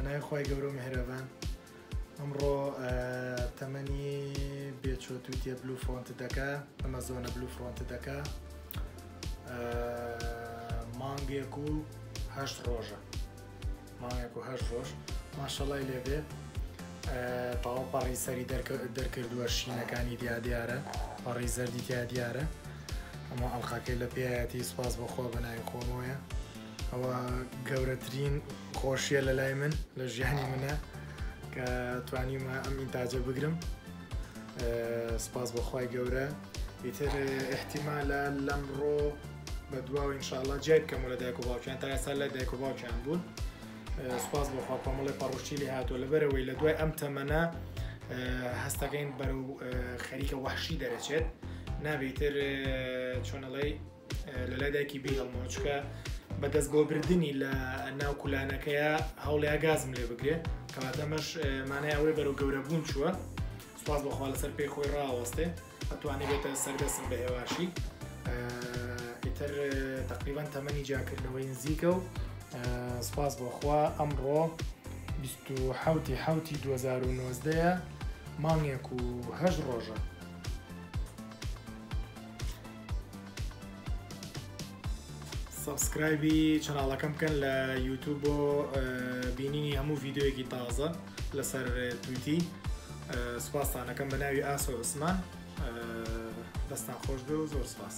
بەناوی خی گەورە و مهرەبان ئەمڕۆ تەمەنی بێچۆت و تێ بلو فرۆنت دەکە ئەمە زۆنە بلو فرۆنت دەکە مانگێک و هەشت ڕۆژە مانگێک و هەشت ڕۆژ ماشەڵای لێبێ تاوە پەڕی سەری دەرکردووە شینەکانی دیا دیارە پەڕی زەردی دیا دیارە ئەمە ئەڵلقەکەی لە پێایەتی سوپاس بەخۆ بەناوی خۆمەوەە ئەوە گەورەترین خۆشیە لە لای من لە ژیانی منە کە توانیمە ئەم ئینتاجە بگرم سپاس بەخوای گەورە ئیتر احتیمالە لەم ڕۆ بە دواوە انشاءله جای بکەم لە دایک و باوکیان تا ئێستا لە دایک و باوکیان بوون سپاس بەخوا کۆمەڵی پەڕۆشی لێ هاتووە لە بەرەوەی لە دوای ئەم تەمەە هەستەکەین بەرەو خەریکە وەحشی دەرەچێت نابیتر چۆنەڵی لەلای دایکی بی هەڵمۆچکە بەدەست بۆ بردننی لە ناو کولانەکەیە هەوڵیا گازم لێ بگرێ کەواتەمەش مانای ئەوەی بەرەو گەورە بوون چووە سپاس بەخوا لەسەر پێی خۆی ڕاوەستێ ئەتوانی بێتە سەردەسم بە هێواشی ئیتر تقریبان تەمەنی جاکردنەوەی نزیکە و سپاس بۆخوا ئەمڕۆ 1970 حوتی 2019 مانگێک و هەش ڕۆژە سەبسکرایبی چناڵەکەم بکەن لە یوتوب بۆ بینینی هەموو ڤیددیوەکی تازە لەسەر تویتی سوپاسانەکەم بە ناوی ئاسۆ عوسمان دەستان خۆش بێ و زۆر سپاس.